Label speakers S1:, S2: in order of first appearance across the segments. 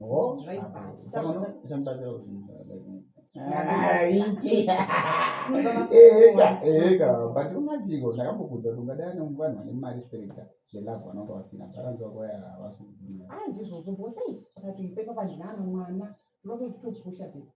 S1: Oh,
S2: but unajiko ndakambokudza kuti ungadai ane vanhu vane mari spereka zvelove vanonga vasina bharanzi wako ya havasi kugwinya ah, ndizvozvo bosai
S1: akatoipepa pandinana mwana ndinotoitopusha pe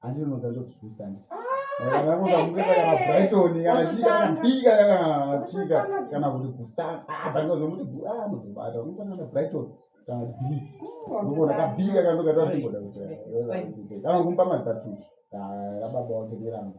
S2: andinoza ndoziboosta anditi brighton kana chii kana mbika kana chika kana kuti gustan abaozomuti anozobata unokonana brighton kana bif nokona kabika kana ndokatatiboda kuti kana kumba mazita tu ababa wake nerangu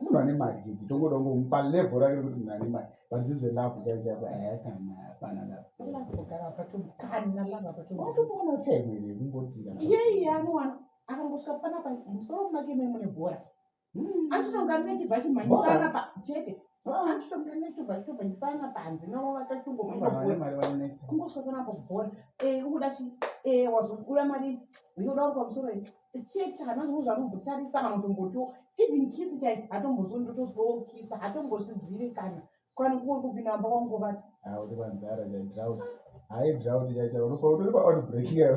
S2: munhu ane mari tongoda ngomupa level rake rekuti munhu ane mari but zizve love chaivo chaivo ehe kana hapana loveotoona utegwere kungotika iyeyi anowana
S1: akangosvika panapa musoro make me mune bhora hmm. anditonga nechibva chimhanyisana pa chete anditonga nechibva chitobhanyisana panze navo vakachongomaakungosvika panapa bhora eh, ukuda chi eh, wazokuda mari uyoda uri pamusoro chete hana zvinhu zvanombotarisa kana kutomboto even kisi chai hatombozo ndotozoo kisa hatombozvizivi kana kana kuo kupinda amba wangu vati auri vanzara
S2: chai drought hai drought chai chai unofa utori pa out break yao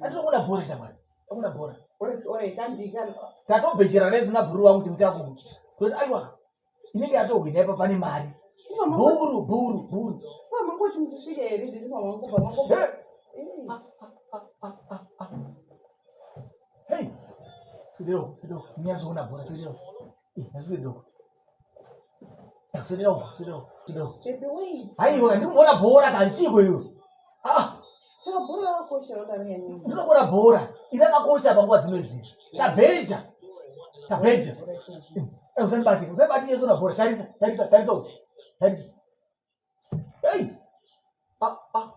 S3: atinoona
S1: bhora shamwari
S3: akuna bhora
S1: tatobhejera
S3: nesu nabhuru wangu kuti mutango kuti kuti aiwa inenge yatohwina ipa pane mari bhuru bhuru bhuru sidero sidero nyazoona bhora sidero nyazoedoko aiwa ndikuona bhora kanchiko iyo
S1: ndinokuona bhora
S3: irakakosha panguva dzino idzi tabeja tabeja eh, usandibatike usandibatike sona bhora tarisa tarisa tarisa tarisa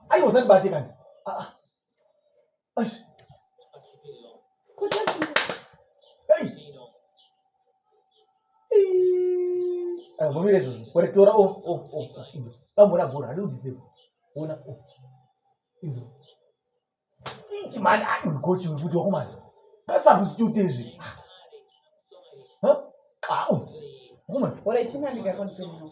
S3: aiwa usandibatikani vomira izvozvo ore tora o o o bambora bhora hadi udziseko ona o idzo ichi mani aikochi kuti wakumana kasakusityuta izvi au wakumana ore
S1: chimandikakonzino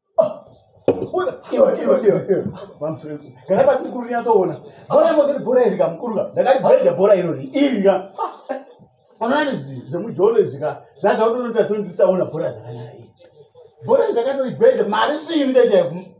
S3: gara pasi mukuru tinyatsoona bora mozoti bora iri ka mukuru ka ndakati bhaija bora irori iri ka onani zvemujolo izvi ka zvazvautonoita sendisaona bora zvakanyara iri bora ndakatoibhaija mari svii ndaichaiku